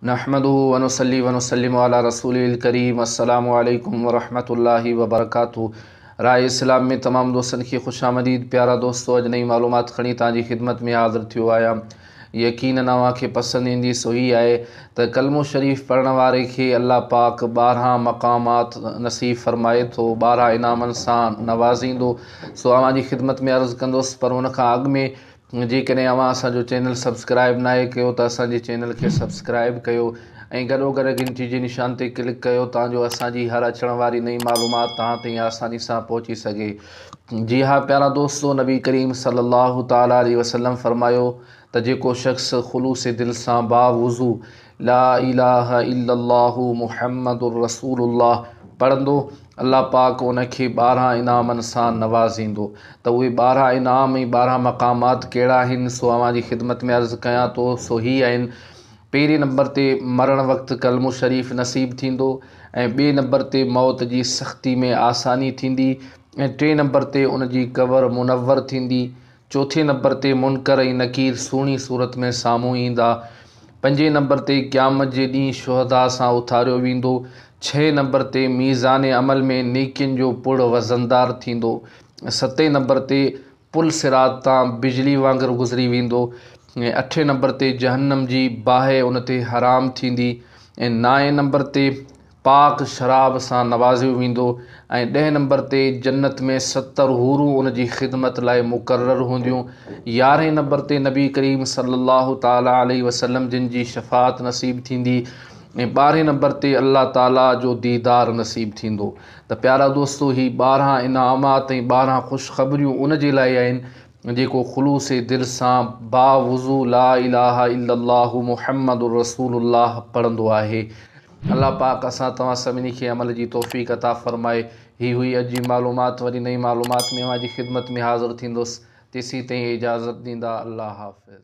نحمده ونصلي ونسلم علي رسوله الڪريم السلام عليڪم ورحمة الله وبرڪاته راء اسلام ۾ تمام دوستن کي خوش آمديد پيارا دوستو اڄ نئين معلومات کڻي توهان جي خدمت ۾ حاضر ٿيو آهيان يقينن اوهان کي پسند ايندي سو هي آهي ته ڪلمو شريف پڙهڻ واري کي الله پاڪ ٻارهان مقامات نصيب فرمائي ٿو ٻارهان انعامن سان نوازيندو سو اوهان جي خدمت ۾ عرض ڪندس پر ان کان اڳ ۾ جيڪڏهن اوهان اسان جو چينل سبسڪرائب ناهي ڪيو ته اسان جي چينل کي سبسڪرائب ڪيو ۽ گڏو گڏ گهنٽي جي نشان تي ڪلڪ ڪيو تان جو اسان جي هر اچڻ واري نئين معلومات توهان تائين آساني سان پهچي سگهي جي ها پيارا دوستو نبي ڪريم صلي الله تعالٰي عليه وسلم فرمايو ته جيڪو شخص خلوص دل سان باوضو لا اله الا الله محمد رسول الله پڙهندو، الله پاڪ ان کي ٻارهن انعامن سان نوازيندو. ته اهي ٻارهن انعام ۽ ٻارهن مقامات ڪهڙا آهن سو اوهان جي خدمت ۾ عرض ڪيان ٿو سو هي آهن، پهرين نمبر تي مرڻ وقت ڪلمو شريف نصيب ٿيندو ۽ ٻئي نمبر تي موت جي سختي ۾ آساني ٿيندي ۽ ٽئين نمبر تي ان جي قبر منور ٿيندي چوٿين نمبر تي منڪر ۽ نڪير سهڻي صورت ۾ سامهون ايندا. پنجين نمبر تي قيامت جي ڏينهن شهداء سان اٿاريو ويندو. ڇهين نمبر تي ميزان عمل ۾ نيڪين جو پڙ وزندار ٿيندو. ستين نمبر تي پل صراط تان بجلي وانگر گذري ويندو ۽ اٺين نمبر تي جهنم جي باهه ان تي حرام ٿيندي ۽ نائين نمبر تي پاڪ شراب سان نوازيو ويندو ۽ ڏهين نمبر تي جنت ۾ ستر حورون ان جي خدمت لاء مقرر هونديون، يارهين نمبر تي نبي ڪريم صلي الله تعالي عليه وسلم جن جي شفاعت نصيب ٿيندي ۽ ٻارهين نمبر تي الله تعالي جو ديدار نصيب ٿيندو ته پيارا دوستو هي ٻارهن انعامات ۽ ٻارهن خوشخبريون ان جي لاء آهن جيڪو خلوص دل سان باوضو لا اله الا الله محمد رسول الله پڙهندو آهي. الله پاڪ اسان توهان سڀني کي عمل جي توفيق عطا فرمائي. هي هئي اڄ جي معلومات وري نئين معلومات ۾ اوهان جي خدمت ۾ حاضر ٿيندس تيسين تائين اجازت ڏيندا الله حافظ.